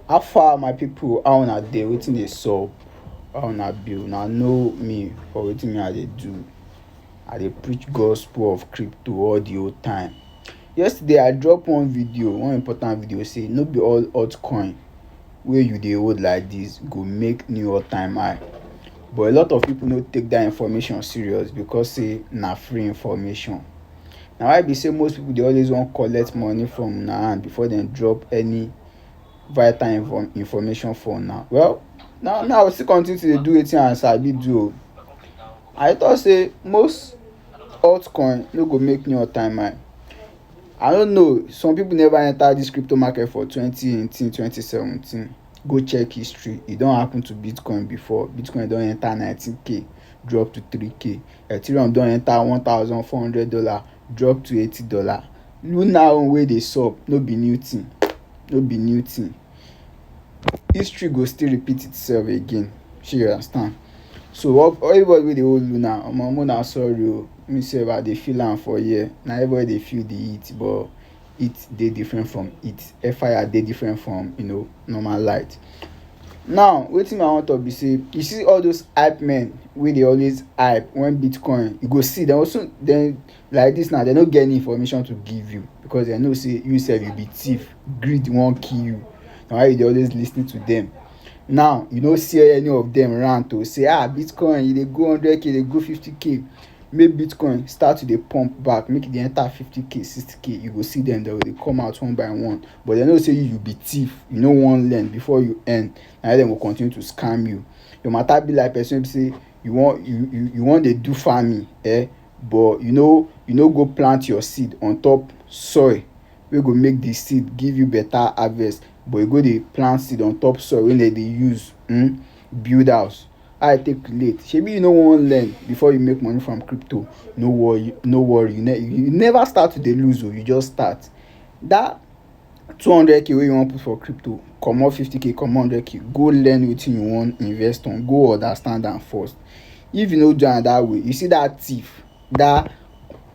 How far my people how una dey wetin dey sup how una be una know me for wetin me I dey do I dey preach gospel of crypto all the whole time yesterday I drop one video one important video say no be all altcoin wey you dey hold like this go make new altime high but a lot of people no take that information serious because say na free information. Na why be sey most pipu dey always wan collect money from una hand before dem drop any vital info information for una. Well na me I go still continue to dey do wetin I sabi do oo. I dey talk sey most altcoin no go make me hurt my mind. I no know some pipu never enter dis crypto market for twenty eighteen, twenty seventeen. Go check history, e don happen to bitcoin before. Bitcoin don enter nineteen k drop to three k. Ethereum don enter one thousand four hundred dollars drop to eighty dollars Luna own wey dey sup no be new thing no be new thing History go still repeat itself again shey you understand So all all everybody wey dey hold Luna omo make una sorry o Me sef I dey feel am for here Na everybody dey feel the heat but heat dey different from heat air fire dey different from you know normal light now wetin me i wan talk be say you see all those hype men wey dey always hype when bitcoin you go see dem go soon dem like this now dem no get any information to give you because dem know say you sef you be thief greed wan kill you na why you dey always lis ten to dem now you no see any of dem rant o say ah bitcoin e dey go hundred k e dey go fifty k make bitcoin start to dey pump back make e dey enter fifty k sixty k you go see them dem go dey come out one by one but dem know say you you be thief you no wan learn before you earn na why dem go continue to scam you your matter be like person wey be say you wan you you you wan dey do farming eh but you no you no go plant your seed on top soil wey go make the seed give you better harvest but you go dey plant seed on top soil wey dem dey use um build house How I take relate? Shebi you no wan learn before you make money from crypto. No worry, no worry. You, ne you never start to dey lose o, oh, you just start. That two hundred k wey you wan put for crypto, comot fifty k, comot hundred k, go learn wetin you wan invest on, go understand am first. If you no do am that way, you see that thief, that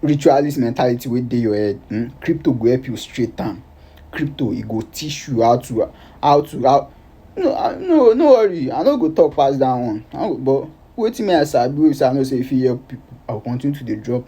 ritualist mentality wey dey your head, hmm, crypto go help you straight am. Crypto e go teach you how to how to how no i no no worry i no go talk pass that one but wetin me i sabi wey be say i know say e fit help people i go continue to dey drop am.